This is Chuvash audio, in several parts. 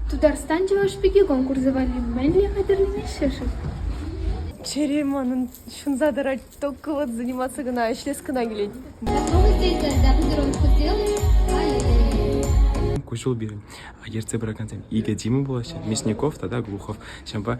Тутарстан Чӑваш пики конкурсӗ валли мӗнле хатӗрленеҫҫӗ-ши? Чӗри манӑн ҫунса тӑрать. Только вот заниматься кӑна, ӗҫлес кӑна килет. Куҫул пирӗн ертсе пыракансем Игорь Дима пулаҫҫӗ, Мясников тата Глухов. Ҫавӑнпа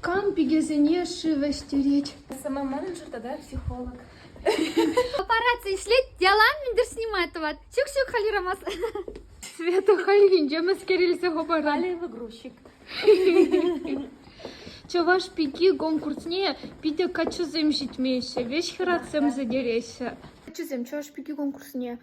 Кам пикесене шыв ӗҫтерет? Самоманажер тата психолог. Аппарат ӗҫлет, яла мӗндер снимать тӑвать. Чӳк-чӳк халирамас. Света хальхинче мӗскер илсе хӑпарать. Алиева грузчик. Чӑваш пики конкурсне питӗ каччӑсем ҫитмеҫҫӗ, веҫ хӗратсем сӗтереҫҫӗ. Каччӑсем Чӑваш пики конкурсне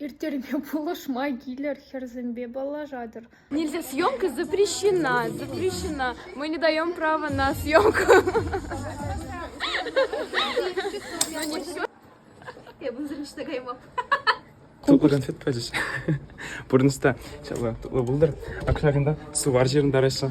Ирттерме пулӑшма килӗр, хӗрсемпе паллашатӑр. Нельзя съемка запрещена, запрещена. Мы не даем права на съемку. Я буду зрелищно тагаймап. Тутлӑран фет пачӗҫ. Пурнӑҫта ҫапла тутлӑ пултӑр. Акшакӑнта сувар ҫырӑнтараҫҫӗ.